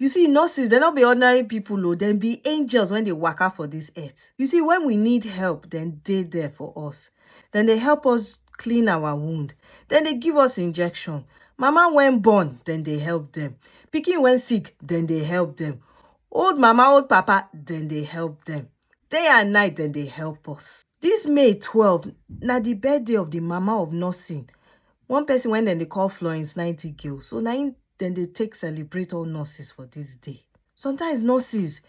You see, nurses, they're not be ordinary people, though. They be angels when they work out for this earth. You see, when we need help, then they there for us. Then they help us clean our wound. Then they give us injection. Mama when born, then they help them. Picking when sick, then they help them. Old mama, old papa, then they help them. Day and night dem dey help us. This May 12 na the birthday of the mama of nursing, one person when dem dey call Florence Nightingale. So na im dem dey take celebrate all nurses for this day. Sometimes nurses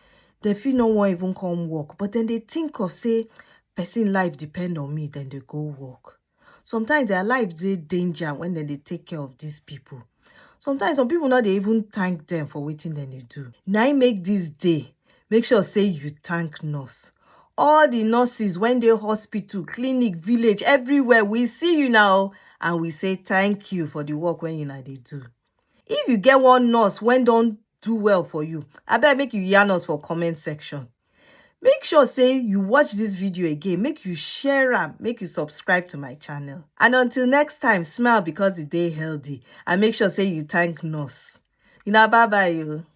dem fit no wan even come work but dem dey think of say person life depend on me dem dey go work. sometimes their life dey danger when dem dey take care of these people sometimes some people no dey even thank them for wetin dem dey do na im make this day make sure say you thank nurse all the nurses when dey hospital clinic village everywhere we see you now and we say thank you for the work when una dey do If you get one nurse when don't do well for you, I abeg make you yarn us for comment section. Make sure say you watch this video again, make you share them, make you subscribe to my channel. And until next time, smile because the day healthy and make sure say you thank nurse. You know, bye-bye you. Oh.